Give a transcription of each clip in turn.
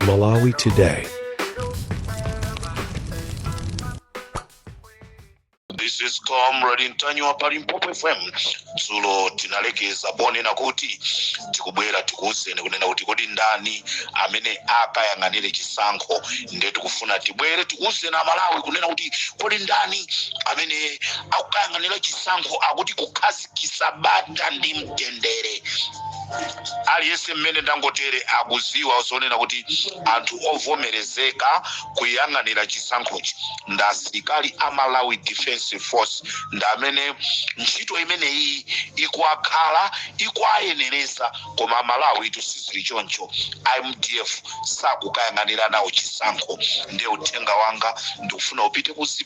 Malawi Today. This is Comrade Ntanyiwa pa Limpopo FM. Dzulo tinalekeza ponena kuti tikubwera tikuwuzeni kunena kuti kodi ndani amene akayang'anire chisankho ndiye tikufuna tibwere tikuwuzeni Amalawi kunena kuti kodi ndani amene akukayang'anira chisankho akuti kukhazi kitsa bata ndi mtendere aliyense mmene ndangotere akuziwa zonena kuti anthu ovomerezeka kuyang'anira chisankhochi ndi asilikali a Malawi Defense Force ndi amene ntchito imeneyi ikuwakhala ikuwayenereza koma Amalawitu sizili choncho a MDF sakukayang'anira nawo chisankho ndiye uthenga wanga ndikufuna upite kuzi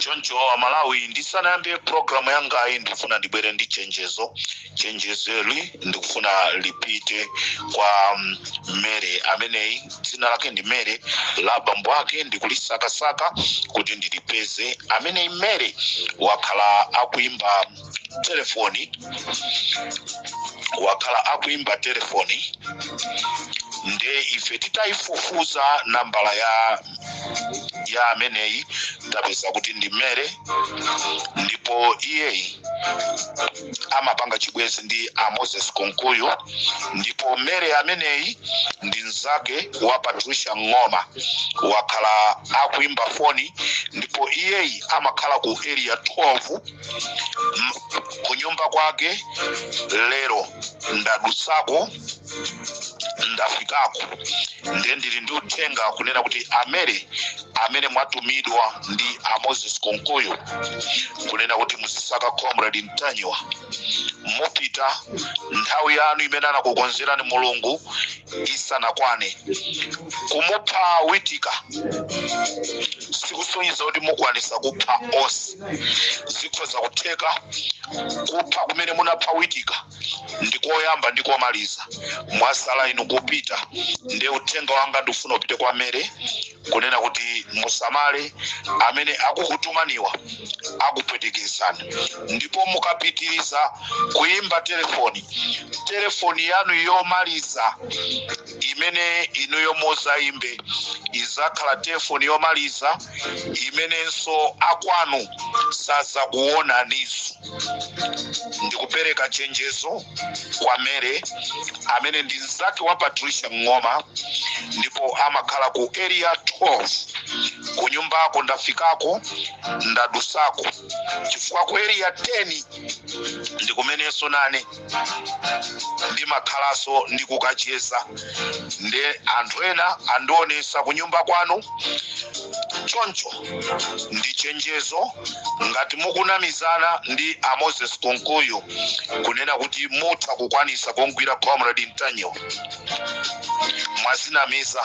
choncho Amalawi ndisanayambe programu yangayi ndifuna ndibwere ndi chenjezo chenjezoli ndikufuna lipite kwa um, Mere ameneyi dzina lake ndi Mere la bambo ake ndikulisakasaka kuti ndilipeze ameneyi Mere wakhala akuimba telefoni wakhala akuimba telefoni nde ife titayifufuza nambala ya ya ameneyi tapeza kuti ndi Mere ndipo iyeyi amapanga chibwezi ndi a Moses Kunkuyu ndipo Mere ameneyi ndi mzake wa Patricia Ng'oma wakhala akuimba foni ndipo iyeyi amakhala ku Area 12 m- ku nyumba kwake lero ndadutsako ndafikako ndiye ndili ndi uthenga kunena kuti a Mere amene mwatumidwa ndi a Moses Kunkuyu kunena kuti muzisaka Comrade Ntanyiwa mupita nthawi yanu imene anakukonzerani Mulungu isanakwane kumupha Witika sikusonyeza kuti mukwanisa kupha onse zikhoza kutheka kupha kumene munapha Witika ndi koyamba ndi komaliza mwasala inu kupita nde uthenga wanga ndikufuna upite kwa Mere kunena kuti musamale amene akukutumaniwa akupwetekesani ndipo mukapitiriza kuyimba telefoni telefoni yanu yomaliza imene inuyo muzayimbe izakhala telefoni yomaliza imenenso akwanu sazakuwonaniso ndikupereka chenjezo kwa mary amene ndi mzake wa patricia ng'oma ndipo amakhala ku area 12 ku nyumbako ndafikako ndadusako chifukwa ku area 10 ndikumenenso nane ndimakhalaso ndikukacheza nde anthu ena andionesa kunyumba kwanu choncho ndi chenjezo ngati mukunamizana ndi a moses kunkuyu kunena kuti mutha kukwanisa kungwira comrade ntanyiwa mwazinamiza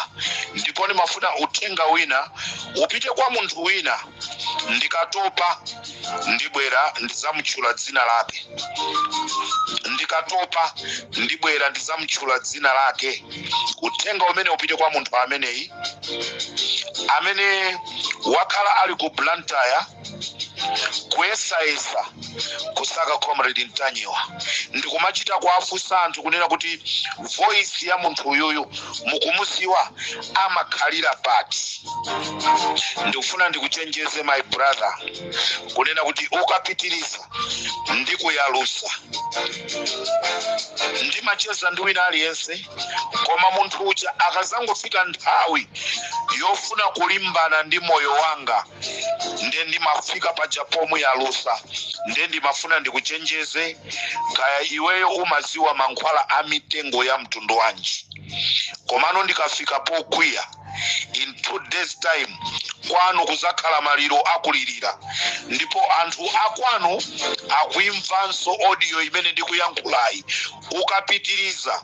ndipo ndimafuna uthenga wina upite kwa munthu wina ndikatopa ndibwera ndizamutchula dzina lake ndikatopa ndibwera ndizamutchula dzina lake uthenga umene upite kwa munthu ameneyi amene wakhala ali ku blantyre kuyesayesa kusaka comrade ntanyiwa ndikumachita kuwafunsa anthu kunena kuti voice ya munthu uyuyu mukumuziwa amakhalira pati ndikufuna ndikuchenjeze my brother kunena kuti ukapitiriza ndikuyalusa ndimacheza ndi wina aliyense koma munthu uja akazangofika nthawi yofuna kulimbana ndi moyo wanga nde ndimafika paja pomuyalusa nde ndimafuna ndikuchenjeze kaya iweyo umaziwa mankhwala a mitengo ya mtundu wanji komano ndikafika pokwiya in two days time kwanu kuzakhala maliro akulirira ndipo anthu akwanu akuimvanso audio imene ndikuyankhulayi ukapitiriza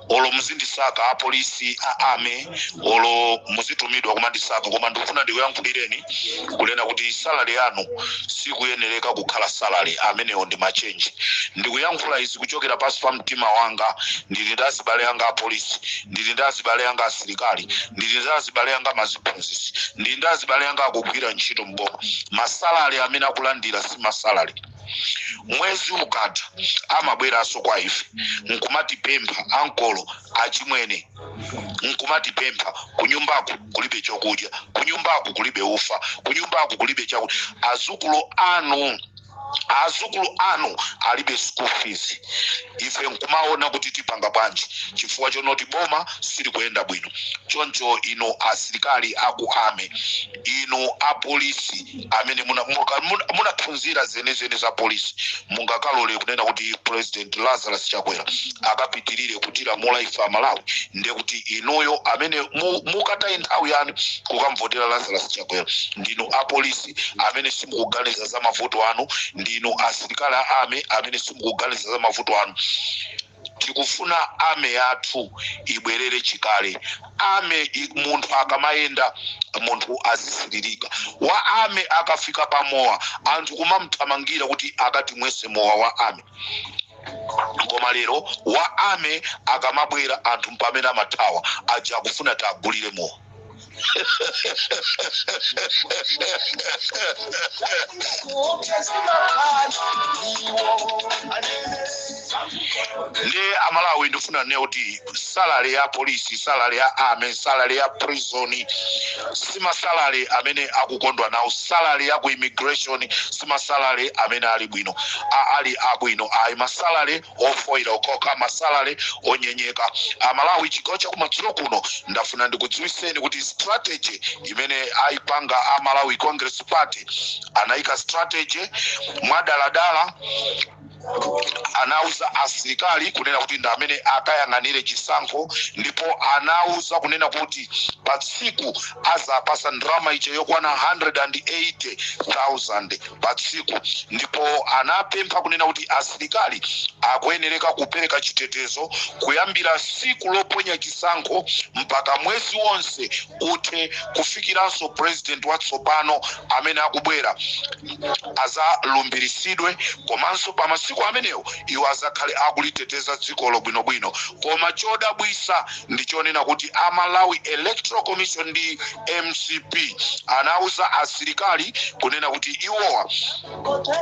olo muzindisaka apolisi a army olo muzitumidwa kumandisaka koma ndikufuna ndikuyankhulireni kunena kuti salary yanu sikuyenereka kukhala salary amenewo ndi machenji ndikuyankhula izi kuchokera pansi pa mtima wanga ndili ndi azibale anga apolisi ndili ndi azibale anga asilikali ndili ndi azibale anga maziphunzisi ndili ndi azibale anga akugwira ntchito m'boma masalary amene akulandira si masalary mwezi ukatha amabweranso kwa ife nkumatipempha ankolo achimwene nkumatipempha kunyumbaku kulibe chakudya kunyumbaku kulibe ufa kunyumbaku kulibe chakudya azukulu anu azukulu anu alibe school fees ife nkumaona kuti tipanga bwanji chifukwa chonoti boma silikuyenda bwino choncho inu asilikali aku army inu apolisi amene muna- muka- muna- munaphunzira zenizeni za polisi mungakalole kunena kuti president lazarus chakwera akapitirire kutilamula ife amalawi ndiye kuti inuyo amene mu- mukataye nthawi yanu kukamvotera lazarus chakwera ndinu apolisi amene simukuganiza za mavuto anu ndinu asilikali a army amene simukuganiza za mavuto anu tikufuna army yathu ibwerere chikale army i- munthu akamayenda munthu azisilirika wa army akafika pa mowa anthu kumamthamangira kuti akatimwese mowa wa army koma lero wa army akamabwera anthu mpamene amathawa aja akufuna tiagulire mowa ndi amalawi ndifuna nnene kuti salary ya polisi salary ya army salary ya prison simasalary amene akukondwa nawo salary ya ku immigration simasalary amene ali bwino a- ali abwino ayi masalary ofoira okhoka masalary onyenyeka amalawi chigawo chakumadzulo kuno ndafuna ndikudziwiseni kuti strategy imene ayipanga a malawi congress party anayika strategy mwadaladala anauza asilikali kunena kuti ndi amene akayang'anire chisankho ndipo anauza kunena kuti pa tsiku azawapasa ndalama ija yokwana 180,000 pa tsiku ndipo anapempha kunena kuti asilikali akuyenereka kupereka chitetezo kuyambira tsiku loponya chisankho mpaka mwezi wonse uthe kufikiranso purezidenti watsopano amene akubwera azalumbiritsidwe komanso pa masiku amenewo iwo azakhale akuliteteza dzikolo bwinobwino koma chodabwisa ndi chonena kuti a malawi electoral commission ndi mcp anauza asilikali kunena kuti iwowa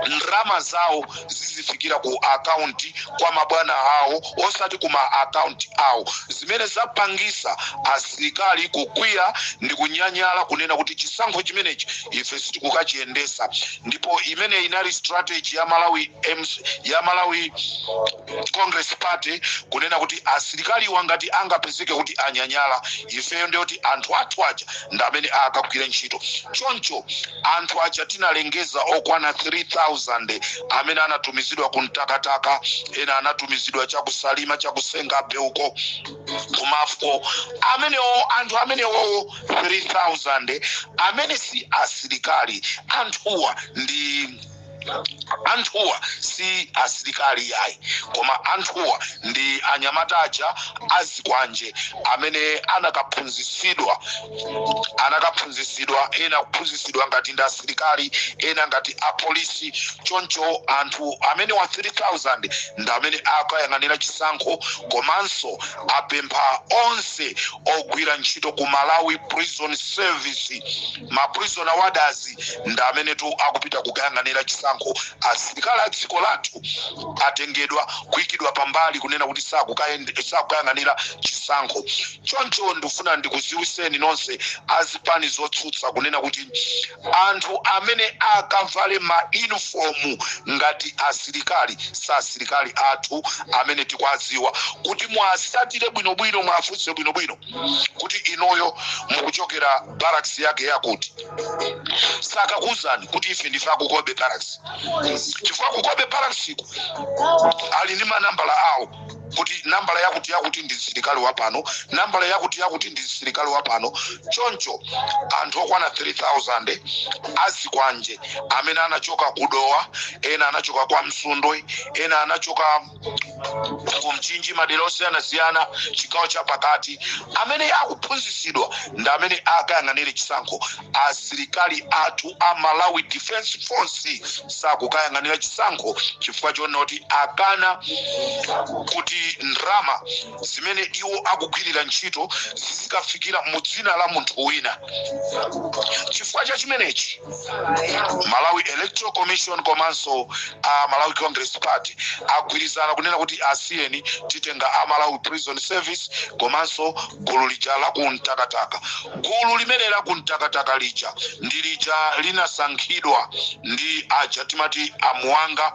ndalama zawo zizifikira ku akaunti kwa mabwana awo osati ku ma akaunti awo zimene zapangisa asilikali kukwiya ndi kunyanyala kunena kuti chisankho chimenechi ife sitikukachiyendesa ndipo imene inali strategy ya malawi MC, ya malawi Congress Party kunena kuti asilikaliwa ngati angapezeke kuti anyanyala, ifeyo ndiye kuti anthu athu aja ndi amene akagwire ntchito. Choncho anthu aja tinalengeza okwana 3,000 amene anatumizidwa ku Mtakataka, ena anatumizidwa cha ku Salima, cha ku Senga Bay uko, ku Mafco. Amenewo, anthu amenewowo 3,000 amene si asilikali, anthuwa ndi. anthuwa si asilikali yayi koma anthuwa ndi anyamata aja azikwanje amene anakaphunzitsidwa anakaphunzitsidwa ena kuphunzitsidwa ngati ndi asilikali ena ngati apolisi choncho anthu amenewa 3000 ndi amene akayang'anira chisankho komanso apempha onse ogwira ntchito ku malawi prison service ma prison warders ndi amenetu akupita kukayang'anira chisankho asilikali a dziko lathu atengedwa kuikidwa pambali kunena kuti sakukayang'anira chisankho choncho ndifuna ndikuziwiseni nonse azipani zotsutsa kunena kuti anthu amene akavale ma uniform ngati asilikali si asilikali athu amene tikuwadziwa kuti muwasatire bwinobwino mwafunse bwinobwino kuti inoyo mukuchokera barracks yakuti yakuti sakakuuzani kuti ife ndife a ku Cobbe barracks chifukwa ku Cobbe barracksiko ali ndi manambala awo kuti nambala yakuti yakuti ndi msilikali wa pano nambala yakuti yakuti ndi msilikali wa pano choncho anthu okwana 3000 azikwanje amene anachoka ku Dowa ena anachoka kwa Msundwe ena anachoka ku Mchinji madera osiyanasiyana chigawo cha pakati amene akuphunzitsidwa ndi amene akayang'anire chisankho asilikali athu a malawi defense force sakukayang'anira chisankho chifukwa chonoti akana kuti ndrama zimene iwo akugwirira ntchito zizikafikira mu dzina la munthu wina chifukwa cha chimenechi malawi electoral commission komanso a malawi congress party agwirizana kunena kuti asiyeni titenga a malawi prison service komanso gulu lija la ku Mtakataka gulu limene la ku Mtakataka lija ndi lija linasankhidwa ndi aja timati amuwanga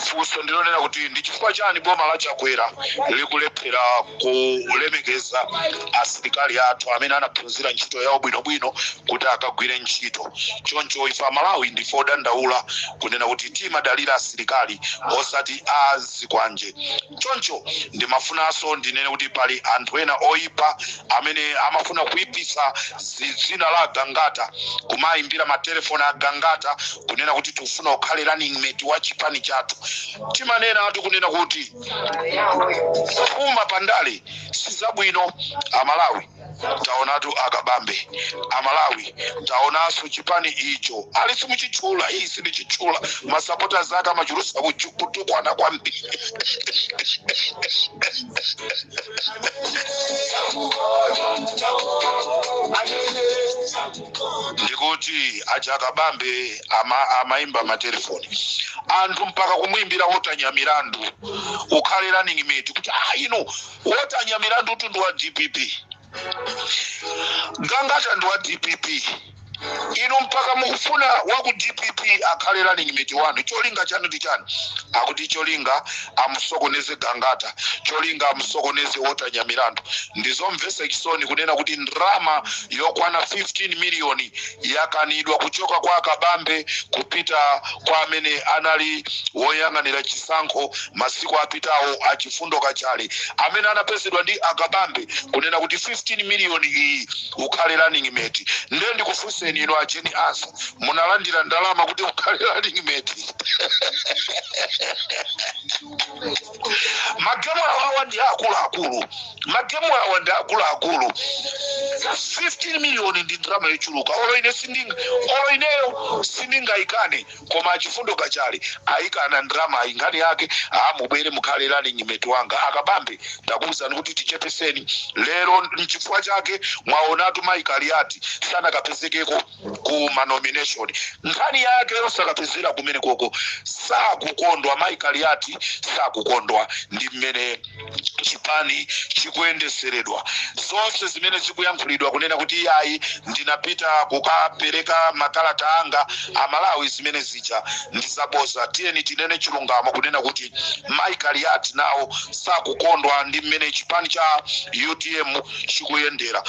funso ndilonena kuti ndi chifukwa chani boma la chakwera likulephera kulemekeza asilikali athu amene anaphunzira ntchito yawo bwinobwino kuti akagwire ntchito choncho ife amalawi ndife odandaula kunena kuti timadalira asilikali osati azikwanje Choncho ndimafunanso ndinene kuti pali anthu ena oipa amene amafuna kuipitsa dzina la Gangata, kumaimbira matelefoni a Gangata kunena kuti tifuna ukhale running mate wa chipani chathu. Timanenatu kunena kuti phuma pa ndale si zabwino Amalawi. taonatu akabambe amalawi taonaso chipani icho ali simuchitchula iyi sindichitchula masapota zake amachulusa kuchu- kutukwana kwambiri ndikuti aja akabambe ama, amaimba matelefoni anthu mpaka kumwimbira walter nyamilandu ukhale running mate kuti ah ino walter nyamilandutu ndi wa dpp gangata ndi wa dpp inu mpaka mukufuna wa ku dpp akhale running mate wanu cholinga chanu ndi chani akuti cholinga amusokoneze gangata cholinga amusokoneze walter nyamilandu ndizomvesa chisoni kunena kuti ndrama yokwana 15 miliyoni yakanidwa kuchoka kwa akabambe kupita kwa amene anali woyang'anira chisankho Masiku apitawo a Chifundo Kachale amene anapezedwa ndi a Kabambe kunena kuti 15 million iyi ukhale running mate nde ndikufunseni inu a Jane Ansah munalandira ndalama kuti ukhale running mate? Magemu awawa ndi akuluakulu, magemu awa ndi akuluakulu. 15 million ndi ndalama yochuluka, olo ine sinding olo ineyo sindingaikane. koma achifundo kachale ayikana ndramayi nkhani yake aa mubwere mukhale running mate wanga akabambe ndakuwuzani kuti tichepeseni lero mchifukwa chake mwaonatu mayi kaliati sanakapezekeko ku manomination nkhani yake yosakapezera kumene koko sakukondwa mayi kaliati sakukondwa ndi mmene chipani chikuyendeseredwa zonse zimene zikuyankhulidwa kunena kuti iyayi ndinapita kukapereka makalata anga amalawi zimene zija ndizaboza tiyeni tinene chilungamo kunena kuti mai kaliati nawo sakukondwa ndi mmene chipani cha utm chikuyendera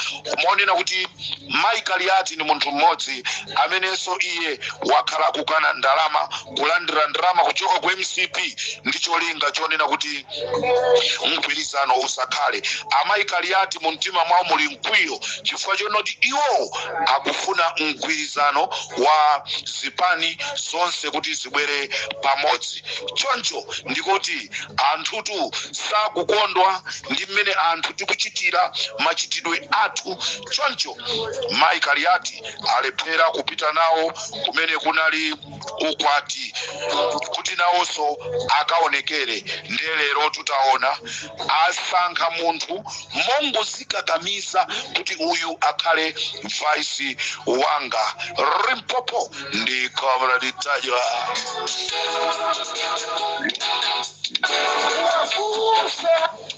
monena kuti mai kaliati ni munthu mmodzi amenenso iye wakhala akukana ndalama kulandira ndalama kuchoka ku mcp ndi cholinga chonena kuti mgwirizano usakhale amayi kaliati mu mtima mwawo muli mkwiyo chifukwa chonoti iwo akufuna mgwirizano wa zipani zonse kuti zibwere pamodzi choncho ndikuti anthutu sakukondwa ndi mmene anthu tikuchitira machitidwe athu choncho mayi kaliati alephera kupita nawo kumene kunali ukwati kuti nawonso akaonekere nde lerotu taona asankha munthu mongozikakamiza kuti uyu akhale vice wanga limpopo ndi comrade ntanyiwa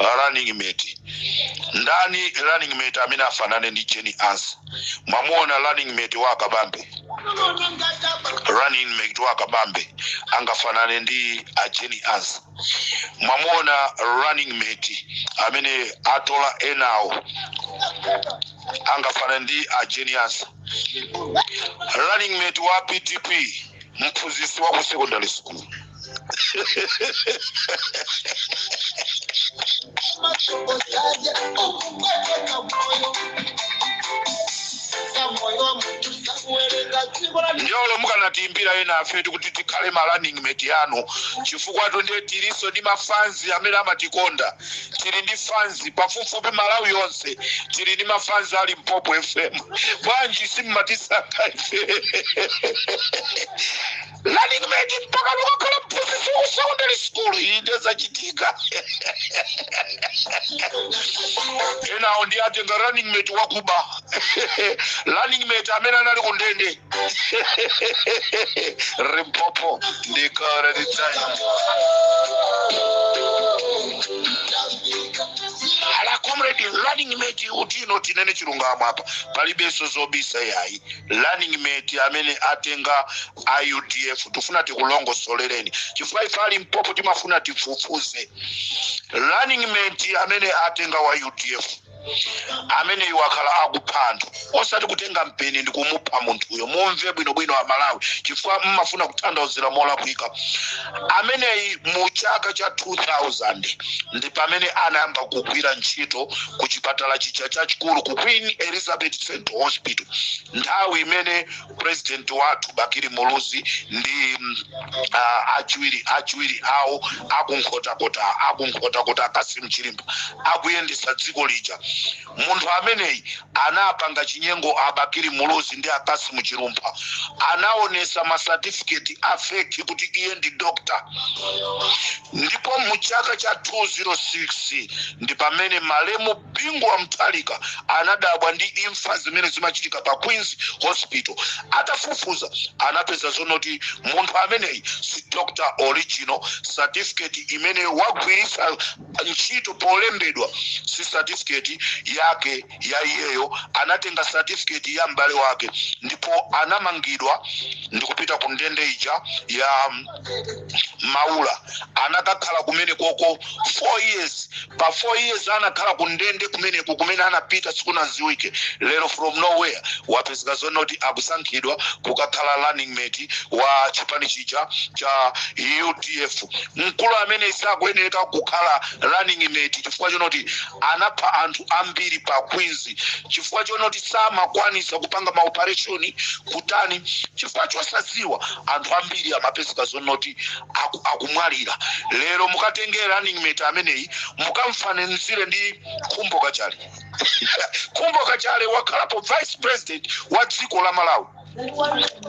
uh, running mate ndani running mate amene afanane ndi jeni ansa mwamuona running mate wa akabambe running mate wa akabambe angafanane ndi a jeni ansa mwamuona running mate amene atola enawo angafanane ndi a jeni ansa running mate wa PDP mphunzitsi wa ku secondary school ndiye olo mukanatiimbira ena afetu kuti tikhale ma running mate yanu chifukwa tonse tilinso ndi mafanzi amene amatikonda tili ndi fanzi pafupifupi malawi yonse tili ndi mafanzi a Limpopo fm bwanji simmatisaka ife running mate mpaka kukakhala mphunzitsi wa secondary school iyi ndezachitika enawo ndiye atenga running mate wakuba running mate amene anali ku ndende Limpopo ndi Comrade Ntanyiwa ala comrade running mate kuti ino tinene chilungamo apa palibenso zobisa yayi running mate amene atenga a udf tifuna tikulongosolereni chifukwa ife a Limpopo timafuna tifufuze running mate amene atenga wa udf ameneyi wakhala akupha anthu osati kutenga mpeni ndi kumupha munthuyo mumve bwinobwino amalawi chifukwa mmafuna kutanthauzira molakwika ameneyi mu chaka cha 2000 ndi pamene anayamba kugwira ntchito ku chipatala chija chachikulu ku queen elizabeth central hospital nthawi imene president wathu bakili muluzi ndi achiwiri awo akunkhotakota akunkhotakota a Cassim Chilumpha akuyendesa dziko lija munthu ameneyi anapanga chinyengo abakili muluzi ndi a Cassim Chilumpha anaonesa masatifiketi a feki kuti iye ndi dokta ndipo mu chaka cha 2006 ndi pamene malemu Bingu wa Mutharika anadabwa ndi imfa zimene zimachitika pa Queens Hospital. Atafufuza anapeza zonoti munthu ameneyi si Dr Original, certificate imene wagwiritsa ntchito polembedwa si certificate yake ya iyeyo, anatenga certificate ya m'bale wake ndipo anamangidwa ndikupita ku ndende ija ya maula anakakhala kumene koko four years pa four years anakhala kundende kumeneko kumene anapita sikunaziwike lero from nowhere wapezeka zonoti akusankhidwa kukakhala running mate wa chipani chija cha udf mkulu amene sakuyenereka kukhala running mate chifukwa chonoti anapha anthu ambiri pa queens chifukwa chonoti samakwanisa kupanga maopareshoni kutani chifukwa chosadziwa anthu ambiri amapezeka zonoti aku, akumwalira lero mukatenge running mate ameneyi mukamfananizire ndi Khumbo Kachali Khumbo Kachali wakhalapo vice president wa dziko la malawi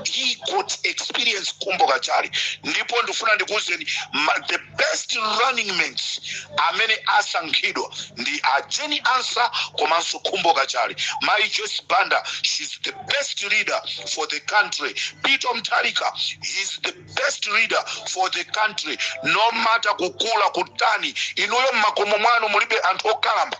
he got experience Khumbo Kachali ndipo ndifuna ndikuwuzeni ma- the best running mates amene asankhidwa ndi a Jane Ansah komanso Khumbo Kachali mayi joyce banda she's the best leader for the country Peter Mutharika he's the best leader for the country no matter kukula kutani inuyo mmakomo mwanu mulibe anthu okalamba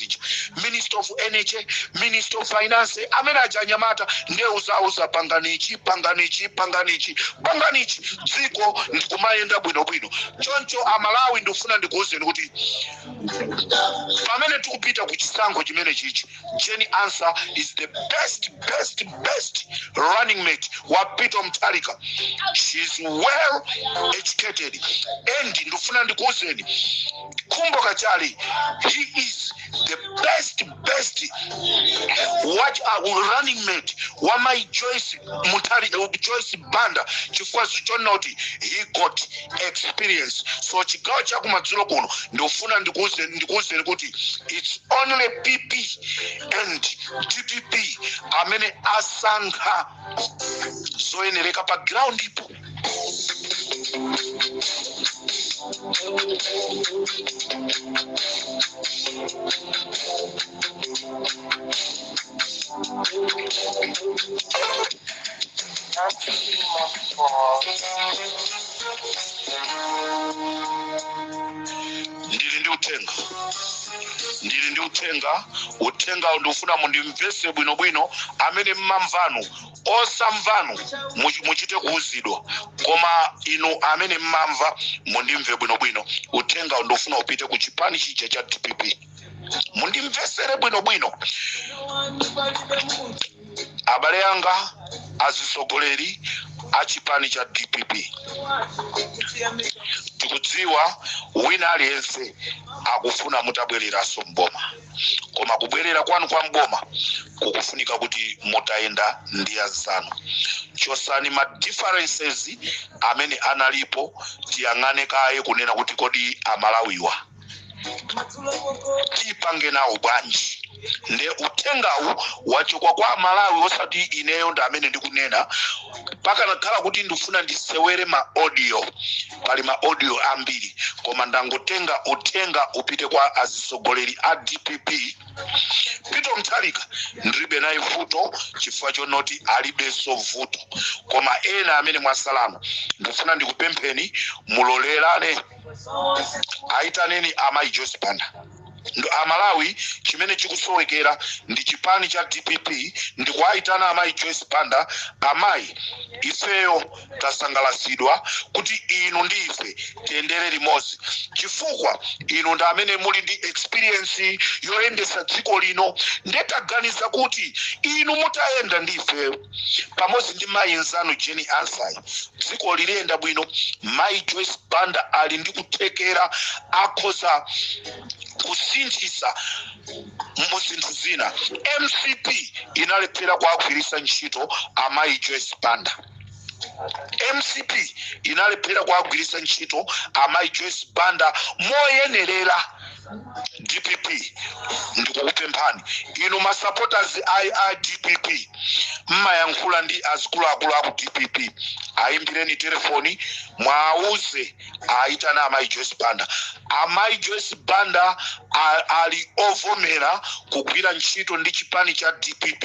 zija minister of energy minister of finance amene achinyamata ndiye uzauza panganichi panganichi panganichi panganichi dziko ndikumayenda bwinobwino choncho amalawi ndikufuna ndikuwuzeni kuti pamene tikupita ku chisankho chimene chichi Jane Ansah is the best best best running mate wa Peter Mutharika she is well educated and ndikufuna ndikuwuzeni Khumbo Kachali, he is the best, best what a running mate wa mayi Joyce Muthari, uh, Joyce Banda chifukwa chonena kuti he got experience. So chigawo cha kumadzulo kuno ndofuna ndikuuze ndikuuzeni kuti it's only PP and DPP amene asankha zoyenereka pa ground-po ndili ndi uthenga ndili ndi uthenga uthengawo ndikufuna mundimvese bwinobwino amene mmamvanu osamvanu much- muchite kuuzidwa koma inu amene mmamva mundimve bwinobwino uthenga ndofuna upite ku chipani chija cha dpp mundimvesere bwinobwino abale anga azisogoleri a chipani cha dpp tikudziwa wina aliyense akufuna mutabwereranso mboma koma kubwerera kwanu kwa mboma kukufunika kuti mutayenda ndi anzanu chosani ma differences amene analipo tiyang'ane kaye kunena kuti kodi amalawiwa tipange nawo bwanji nde uthengawu wachokwa kwa amalawi osati ineyo nda amene ndikunena pakanakhala kuti ndifuna ndisewere ma audio pali ma audio ambiri koma ndangotenga uthenga upite kwa atsogoleri a dpp peter mutharika ndilibe naye vuto chifukwa chonoti alibenso vuto koma ena amene mwatsalanu ndifuna ndikupempheni mulolerane ayitaneni amayi joyce banda Nde amalawi chimene chikusowekera ndi chipani cha dpp ndikuwaitana amayi joyce banda amayi ifeyo tasangalasidwa kuti inu ndi ife tiyendere limodzi chifukwa inu ndi amene muli ndi experience yoyendesa dziko lino ndetaganiza kuti inu mutayenda ndi ifeyo pamodzi ndi mayi nzanu jane ansah dziko lidzayenda bwino mayi joyce banda ali ndi kuthekera akhoza kusinthisa mu zinthu zina mcp inalephera kuagwiritsa ntchito amayi joyce banda mcp inalephera kuagwiritsa ntchito amayi joyce banda moyenerera dpp ndikukupemphani inu ma supporters a, a dpp mumayankhula ndi azikuluakulu aku dpp ayimbireni telefoni muwauze ayitane amayi joyce banda amayi joyce banda a- ali ovomera kugwira ntchito ndi chipani cha dpp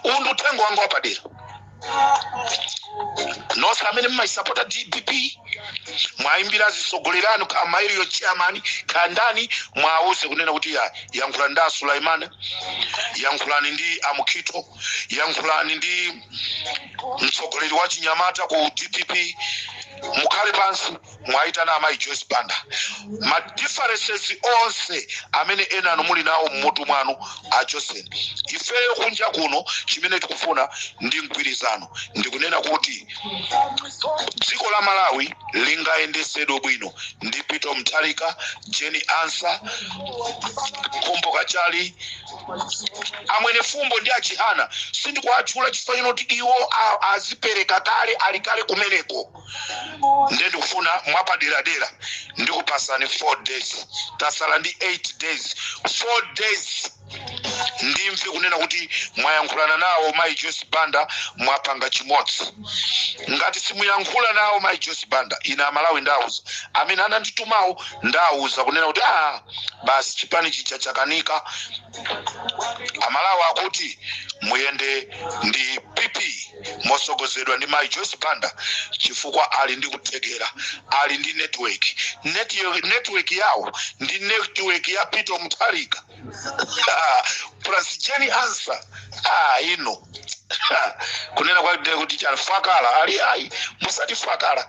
uwu ndi uthenga wanga wapadera nonse amene mumayisapota dpp muwayimbire atsogoleri anu kaya mayi iwo chairman kaya ndani muwauze kunena kuti ya yankhulani ndi a suleman yankhulani ndi amukhito yankhulani ndi mtsogoleri wa chinyamata ku dpp mukhale pansi muwaitane amayi joyce banda ma differences onse amene enanu muli nawo mmutu mwanu achoseni ifeyo kunja kuno chimene tikufuna ndi mgwirizano ndikunena kuti dziko la malawi lingayendesedwe bwino ndi peter mutharika jane ansah khumbo kachali a mwenifumbo ndi achihana sindikuwatchula chifukwa chonoti iwo a- azipereka kale ali kale kumeneko nde ndikufuna mwapaderadera ndikupatsani 4 days tasala ndi 8 days 4 days ndimve kunena kuti mwayankhulana nawo mayi joyce banda mwapanga chimodzi ngati simuyankhula nawo mayi joyce banda ine amalawi ndiwauza amene ananditumawo ndiwauza kunena kuti a ah, basi chipani chija chakanika amalawi akuti muyende ndi pp mosogozedwa ndi mayi Joyce Banda chifukwa ali ndi kuthekera ali ndi network Neti- network yawo ndi network ya Peter Mutharika plus Jane Ansah ah, ino kunena kwake kuti chani fakala ali ayi musati fakala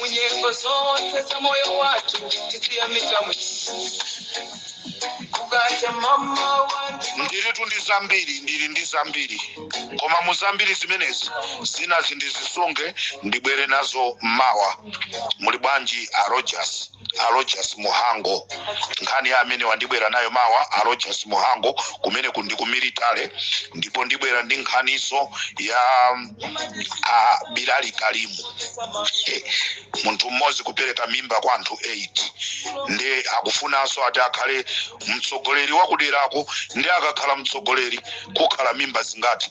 munyengo zonse za moyo wathu tiziyamika kukacha mama wangu ndiritu ndi zambiri ndiri ndi zambiri koma mu zambiri zimenezi zinazo ndizisunge ndibwere nazo mawa muli bwanji a rogers a Rogers Muhango nkhani ya amenewa ndibwera nayo mawa a Rogers Muhango kumeneku ndi ku military ndipo ndibwera ndi nkhaniso ya mm, a Bilali Kalimu Eh, munthu mmodzi kupereka mimba kwa anthu 8 nde akufunanso ati akhale mtsogoleri wakuderako nde akakhala mtsogoleri kukhala mimba zingati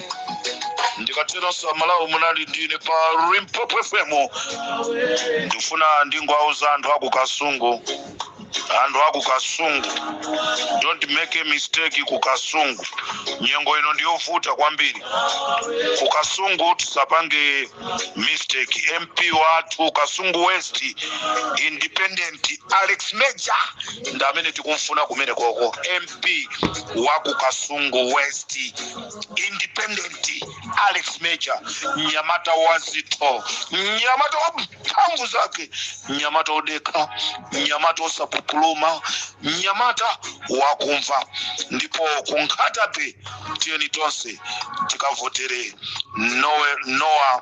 ndikateronso amalawi munali ndine pa limpopo fm ndifuna ndingowauza anthu aku kasungu anthu aku kasungu don't make a mistake ku kasungu nyengo ino ndiyovuta kwambiri ku kasungu tisapange mistake mp wathu kasungu west independent Alex Major ndi amene tikumfuna kumenekoko mp waku kasungu west independent alex major mnyamata wa zintchito mnyamata wa mphamvu zake mnyamata odekha mnyamata osapupuluma mnyamata wakumva ndipo ku Nkhata Bay tiyeni tonse tikavotere Noah